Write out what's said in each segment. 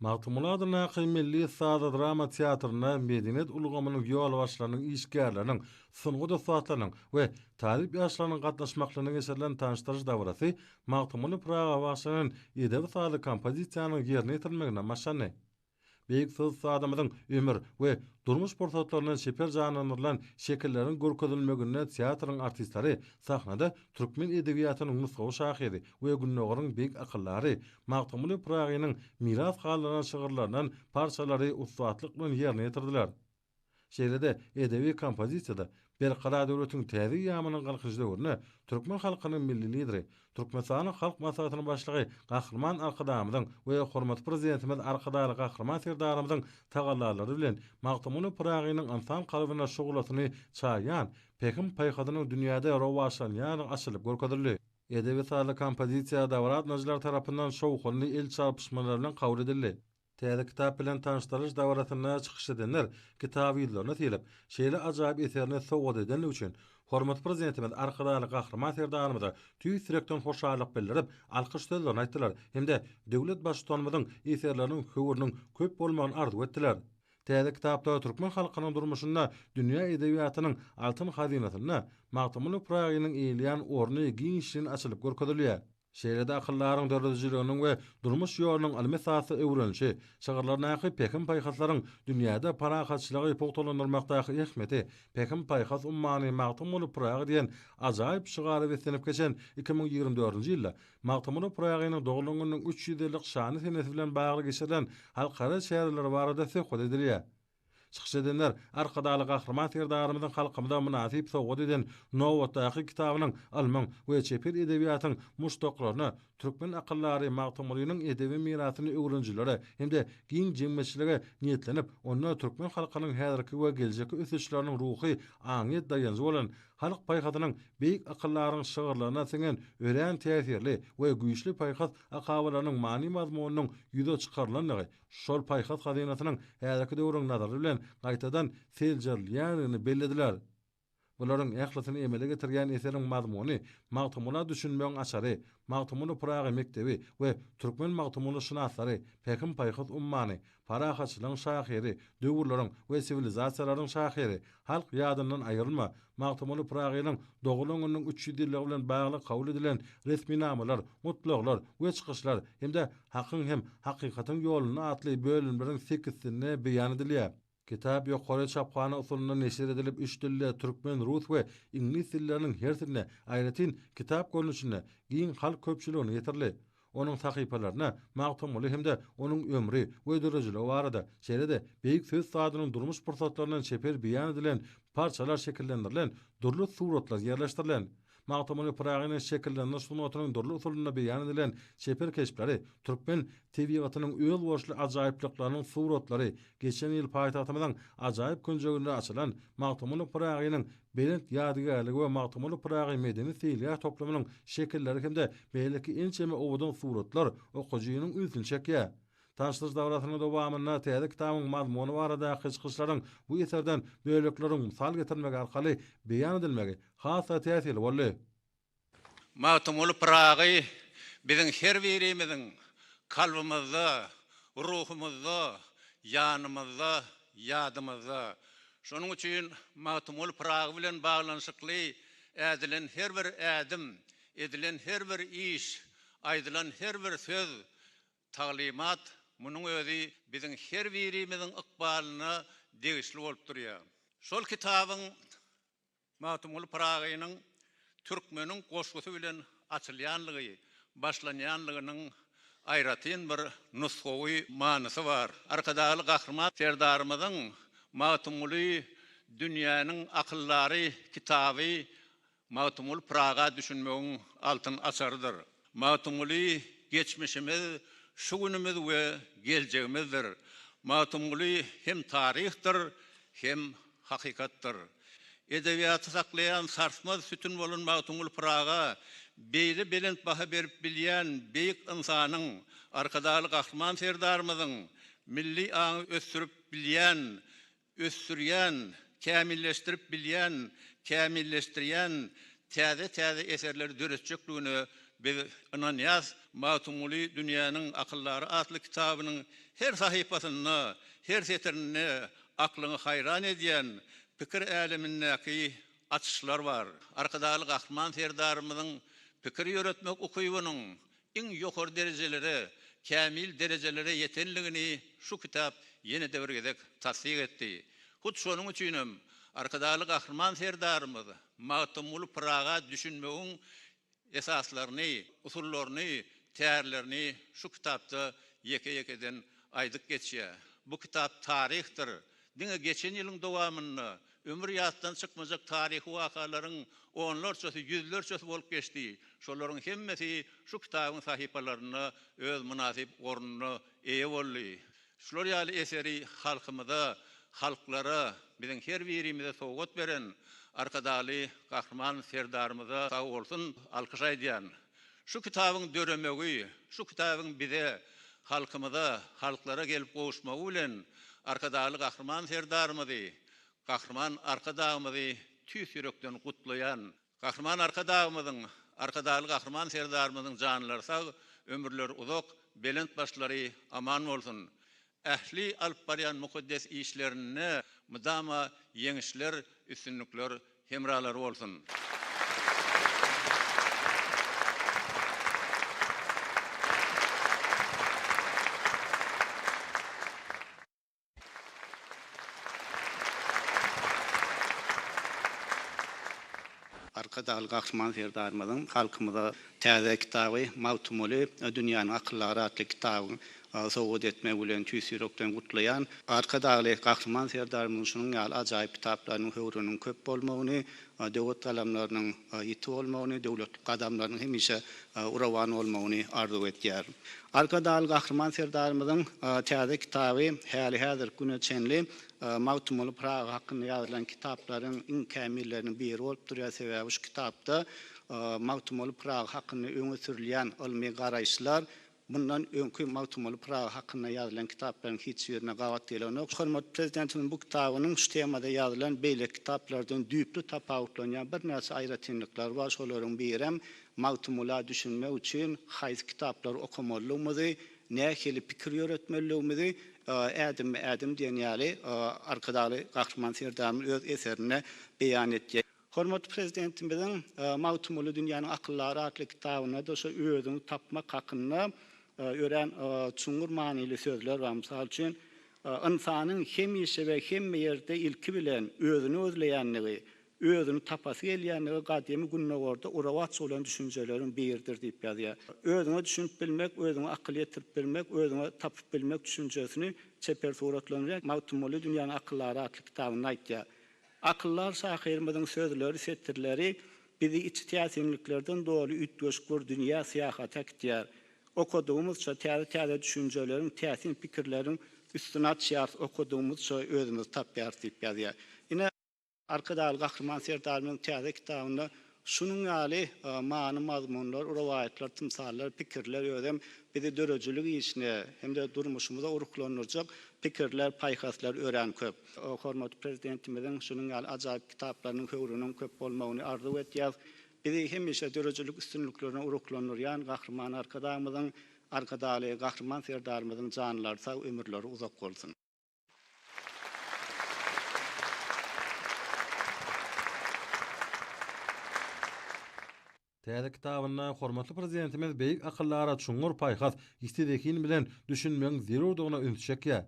Magtymguly adyndaky milli saza-drama teatrynda medeniýet ulgamynyň ýolbaşçylarynyň, işgärleriniň, sungat ussatlarynyň we talyp ýaşlarynyň gatnaşmaklygyna geçirilen tanyşdyryş dabarasy Magtymguly Pyraga bagşylanan edebi-sazly kompozisiýanyň ýerine ýetirilmegine başlandy. Beýik Sozsadamyzyň ömür we durmuş pursatlaryndan çeper janlandyrylan şekilleriň görkezilmeginde teatryň artistleri sahnada türkmen edebiýatynyň nusgawy şahyry we Gündogaryň beýik akyldary Magtymguly Pyragynyň miras galdyran şygyrlaryndan parçalary ussatlyk bilen ýerine ýetirdiler. Şeýle-de edebi kompozisiýada Berkarar döwletiň täze eýýamynyň Galkynyş döwründe türkmen halkynyň Milli Lideri, Türkmenistanyň Halk Maslahatynyň Başlygy Gahryman Arkadagymyzyň we hormatly Prezidentimiz Arkadagly Gahryman Serdarymyzyň tagallalary bilen Magtymguly Pyragynyň ynsan kalbyna şuglasyny çaýýan pähim-paýhasynyň dünýäde rowaçlanýandygy açylyp görkezildi. Edebi-sazly kompozisiýa dabaradynyjylar tarapyndan şowhunly el çarpyşmalar bilen kabul edildi. Täze kitap bilen tanyşdyrylyş dabarasynda çykyş edenler kitaby ýüzlerine sylyp, şeýle ajaýyp eserini sowgat edenligi üçin hormatly Prezidentimiz Arkadagly Gahryman Serdarymyza tüýs ýürekden hoşallyk bildirip, alkyş sözlerini aýtdylar hem-de döwlet Baştutanymyzyň eserleriniň höwrüniň köp bolmagyny arzuw etdiler. Täze kitapda türkmen halkynyň durmuşynda dünýä edebiýatynyň altyn hazynasynda Magtymguly Pyragynyň eýeleýän orny giňişleýin açylyp görkezilýär. Şeýle-de akyldaryň döredijiliginiň we durmuş ýolunyň ylmy esasda öwrenişi, şygyrlaryndaky pähim-paýhaslaryň dünýäde parahatçylygy pugtalandyrmakdaky ähmiýeti, Pähim-paýhas ummany Magtymguly Pyragy diýen ajaýyp şygara beslenip geçen iki müň ýigrimi dördünji ýylda Magtymguly Pyragynyň doglan gününiň üç ýüz ýyllyk şanly senesi bilen bagly geçirilen halkara çäreleri barada söhbet edilýär. Çykyş edenler Arkadagly Gahryman Serdarymyzyň halkymyza mynasyp sowgat eden nobatdaky kitabynyň ylmyň we çeper edebiýatyň muşdaklaryna, türkmen akyldary Magtymgulynyň edebi mirasyny öwrenijilere hem-de giň jemgyýetçilige niýetlenip, onda türkmen halkynyň häzirki we geljekki ösüşleriniň ruhy aňyýet daýanjy bolan halk paýhasynyň beýik akyldaryň şygyrlaryna siňen örän täsirli we güýçli paýhas akabalarynyň many-mazmunynyň ýüze çykarylandygy şol paýhas hazynasynyň häzirki döwrüň nazary bilen gaýtadan seljerilýändigini bellediler. Bularyň ählisini emele getirýän eseriň mazmuny Magtymgula düşünmegiň açary, Magtymguly Pyragy mekdebi we Türkmen Magtymguly şynaslary, Pähim-paýhas ummany, Parahatçylygyň şahyry, Döwürleriň we siwilizasiýalaryň şahyry, Halk ýadyndan aýrylma, Magtymguly Pyragynyň doglan gününiň üç ýüz ýyllygy bilen bagly kabul edilen resminamalar, gutlaglar we çykyşlar hem-de Hakyň hem hakykatyň ýolunda atly bölümleriň sekizsinde beýan edilýär. Kitap ýokary çaphana usulynda neşir edilip, üç dilde, türkmen, rus we iňlis dilleriniň hersinde, aýratyn, kitap görnüşinde, giň halk köpçüligine ýetirildi. Onuň sahypalaryna Magtymguly hem-de onuň ömri we döredijiligi barada, şeýle-de beýik söz usadynyň durmuş pursatlaryndan çeper beýan edilen parçalar şekillendirilen dürli suratlar ýerleşdirilen. Magtymguly Pyragynyň şekillendiriş sungatynyň dürli usulynda beýan edilen çeper keşpleri, türkmen tebigatynyň özboluşly ajaýyplyklarynyň suratlary geçen ýyl paýtagtymyzyň ajaýyp künjeginde açylan Magtymguly Pyragynyň Belent ýadygärligi we Magtymguly Pyragy medeni-seýilgäh toplumynyň şekilleri hem-de beýleki ençeme owadan suratlar okyjynyň ünsüni çekýär. Tanyşdyryş dabarasynyň dowamynda täze kitabyň mazmuny baradaky çykyşlaryň bu eserden bölekleriň mysal getirmek arkaly beýan edilmegi has-da täsirli boldy. Magtymguly Pyragy biziň her birimiziň kalbymyzda, ruhumyzda, ýanymyzda, ýadymyzda. Şonuň üçin Magtymguly Pyragy bilen baglanyşykly ädilen her bir ädim, edilen her bir iş, aýdylan her bir söz, taglymat, munuň özi biziň her birimiziň ykbalyna degişli bolup durýar. Şol kitabyň Magtymguly Pyragynyň Türkmeniň goşgusy bilen açylýanlygy, başlanýanlygynyň aýratyn bir nusgawy manysy bar. Arkadagly Gahryman Serdarymyzyň Magtymguly dünýäniň akyldary kitaby Magtymguly Pyraga düşünmegiň altyn açarydyr. Magtymguly geçmişimiz, şu günümiz we geljegimizdir. Magtymguly hem taryhdyr, hem hakykatdyr. Edebiýaty saklaýan sarsmaz sütün bolan Magtymguly Pyraga beýle belent baha berip bilýän beýik ynsanyň, Arkadagly Gahryman Serdarymyzyň milli aňy ösdürip bilýän ösdürýän, kämilleşdirip bilýän, kämilleşdirýän täze-täze eserleri döretjekdigine biz ynanýas. Magtymguly dünýäniň akyldary atly kitabynyň her sahypasynda, her setirinde aklyňy haýran edýän pikir älemindäki açyşlar bar. Arkadagly Gahryman Serdarymyzyň pikir ýöretmek ukybynyň iň ýokary derejelere, kämil derejelere ýetenligini şu kitap ýene-de bir gezek tassyk etdi. Hut şonuň üçin hem Arkadagly Gahryman Serdarymyz Magtymguly Pyraga düşünmegiň esaslaryny, usullaryny, tärlerini şu kitapda ýeke-ýekeden aýdyp geçýär. Bu kitap taryhdyr. Diňe geçen ýylyň dowamynda Ömür ýatdan çykmajak taryhy wakalaryň onlarçasy, ýüzlerçesi bolup geçdi. Şolaryň hemmesi şu kitabyň sahypalarynda öz mynasyp ornuna eýe boldy. Şular ýaly eseri halkymyza, halklara, biziň her birimize sowgat beren Arkadagly Gahryman Serdarymyza sag bolsun, alkyş aýdýan. Şu kitabyň döremegi, şu kitabyň bize, halkymyza, halklara gelip gowuşmagy bilen Arkadagly Gahryman Serdarymyzy, Gahryman Arkadagymyzy tüýs ýürekden gutlaýan. Gahryman Arkadagymyzyň, Arkadagly Gahryman Serdarymyzyň janlary sag, ömürleri uzak, belent başlary aman bolsun! Ähli alyp barýan mukaddes işlerinde mydama ýeňişler, üstünlikler hemralary bolsun! Arkadagly Gahryman Serdarymyzyň halkymyza täze kitaby Magtymguly dünýäniň akyllyary atly kitabyň Agy sowgat etmek bilen tüýs ýürekden gutlaýan Arkadagly Gahryman Serdarymyzyň şunuň ýaly ajaýyp kitaplarynyň höwrüniň köp bolmagyny, döwet galamlarynyň ýiti bolmagyny, döwletli gadamlarynyň hemişe urawan bolmagyny arzuw edýärin. Arkadagly Gahryman Serdarymyzyň täze kitaby häli-häzirki güne çenli Magtymguly Pyragy hakynda ýazylan kitaplaryň iň kämilleriniň biri bolup durýar, sebäbi şu kitapda Magtymguly Pyragy hakynda öňe sürülýän ylmy garaýyşlar, Mundan öňki Magtymguly Pyragy hakynda ýazylan kitaplaryň hiç birine gabat gelenok. Hormatly Prezidentimiziň bu kitabynyň şu temada ýazylan beýleki kitaplardan düýpli tapawutlanýan birnäçe aýratynlyklary bar. Şolaryň birem Magtymgula düşünmek üçin haýsy kitaplary okamalydygymyzy, nähili pikir ýöretmelidigimizi Ädimmi-ädim diýen ýaly Arkadagly Gahryman Serdarymyz öz eserinde beýan etýär. Hormatly Prezidentimiziň Magtymguly dünýäniň akyldary atly kitabynda-da şu özüňi tapmak hakynda örän çuňňur manyly sözler bar. Mysal üçin, Ynsanyň hemişe we hemme ýerde ilki bilen özüni gözleýändigi, özüni tapasy gelýändigi gadymy Gündogarda urubaç bolan düşünjeleriň biridir diýip ýazýar. Özüňe düşünip bilmek, özüňe akyl ýetirip bilmek, özüňi tapyp bilmek düşünjesini çeper suratlandyrýan Magtymguly dünýäniň akyldary atly kitabynda aýtýar. Akyldar şahyrymyzyň sözleri, setirleri bizi içi täsinliklerden doly üýtgeşik bir dünýä syýahata äkitýär. Okadygymyzça, täze-täze düşünjeleriň, täsin pikirleriň üstüni açýarys, okadygymyzça özümizi tapýarys diýip ýazýar. Ine, Arkadagly Gahryman Serdarymyzyň täze kitabynda Şunuň ýaly many-mazmunlar, rowaýatlar, tymsallar, pikirler özem bizi döredijilik işine hem-de durmuşymyza ruhlandyrjak pikirler, paýhaslar örän köp. Hormatly Prezidentimiziň şunuň ýaly ajaýyp kitaplarynyň höwrüniň köp bolmagyny arzuw edýäris. Bizi hemişe döredijilik üstünliklerine ruhlandyrýan Gahryman Arkadagymyzyň, Arkadagly Gahryman Serdarymyzyň janlary sag, ömürleri uzak bolsun! Täze kitabynda hormatly Prezidentimiz beýik akyllara çuňňur paýhas, ýiti zehin bilen düşünmegiň zerurdygyna üns çekýär.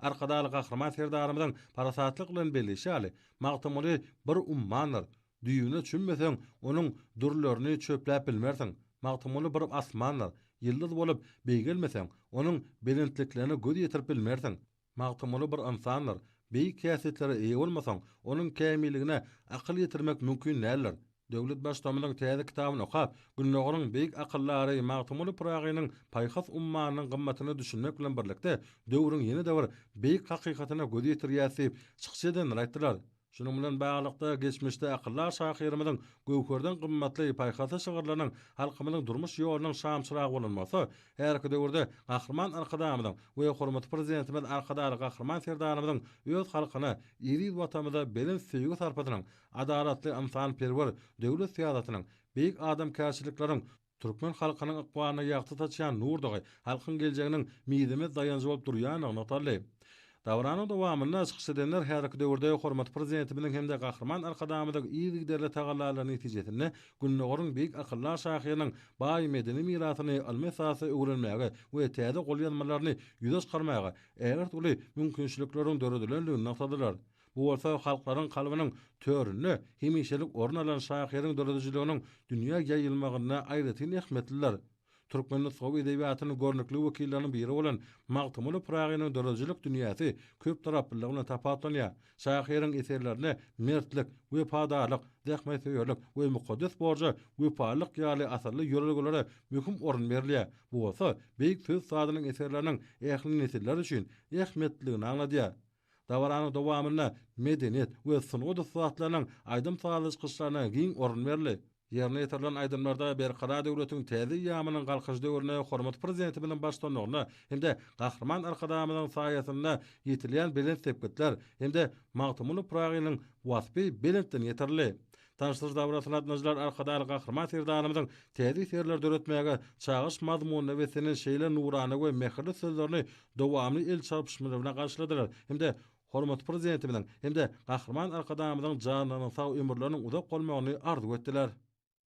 Arkadagly Gahryman Serdarymyzyň parasatlyk bilen belleýşi ýaly, Magtymguly bir ummandyr, Düýbüne çümmeseň, onuň dürlerini çöpläp bilmersiň. Magtymguly bir asmandyr, ýyldyz bolup beýgelmeseň, onuň belentliklerine göz ýetirip bilmersiň. Magtymguly bir ynsandyr, beýik häsiýetlere eýe bolmasaň, onuň kämilligine akyl ýetirmek mümkin däldir. Döwlet Baştutanymyzyň täze kitabyny okap, Gündogaryň beýik akyldary Magtymguly Pyragynyň paýhas ummanynyň gymmatyna düşünmek bilen birlikde, döwrüň ýene-de bir beýik hakykatyna göz ýetirýäris diýip, çykyş edenler aýtdylar. Şunuň bilen baglylykda, geçmişde akyldar şahyrymyzyň Göwherden gymmatly paýhasly şygyrlarynyň halkymyzyň durmuş ýolunyň şamçyragy bolan bolsa, häzirki döwürde Gahryman Arkadagymyzyň we hormatly Prezidentimiz Arkadagly Gahryman Serdarymyzyň öz halkyna, eziz Watanymyza belent söýgi-sarpasynyň, adalatly, ynsanperwer döwlet syýasatynyň, beýik adamkärçilikleriň, Türkmen halkynyň ykbalyna ýagty saçýan nurdagy halkyň geljeginiň mizemez daýanjy bolup durýandygy nygtaldy. Dabaranyň dowamynda çykyş edenler häzirki döwürde hormatly Prezidentimiziň hem-de Gahryman Arkadagymyzyň yzygiderli tagallalary netijesinde Gündogaryň beýik akyldar şahyrynyň baý medeni mirasyny ylmy esasda öwrenmäge we täze golýazmalaryny ýüze çykarmaga ägirt uly mümkinçilikleriň döredilendigini nygtadylar. Bu bolsa halklaryň kalbynyň töründe hemişelik orun alan şahyryň döredijiliginiň dünýä ýaýylmagynda aýratyn ähmiýetlidir. Türkmen nusgawy edebiýatynyň görnükli wekilleriniň biri bolan Magtymguly Pyragynyň döredijilik dünýäsi köptaraplylygy bilen tapawutlanýar. Şahyryň eserlerinde mertlik, wepadarlyk, zähmetsöýerlik we mukaddes borja wepalylyk ýaly asylly ýörelgelere möhüm orun berilýär, bu bolsa beýik söz sazynyň eserleriniň ähli nesiller üçin ähmiýetliligini aňladýar. Dabaranyň dowamynda medeniýet we sungat ussatlarynyň aýdym-sazly çykyşlaryna giň orun berildi. Ýerine ýetirilen aýdymlarda Berkarar döwletiň täze eýýamynyň Galkynyş döwründe hormatly Prezidentimiziň baştutanlygynda hem-de Gahryman Arkadagymyzyň saýasynda ýetilýän belent sepgitler hem-de Magtymguly Pyragynyň waspy belentden ýetirildi. Daşsyr dabarasy latynajylar Arkadagly Gahryman Serdarymyzyň täze eserleri döretmäge çagyryş mazmunyna beslenen şeýle nurana we mähirli sözlerini dowamly el çarpyşmalar bilen garşyladylar hem-de hormatly Prezidentimiziň hem-de Gahryman Arkadagymyzyň janlarynyň sag, ömürleriniň uzak bolmagyny arzuw etdiler.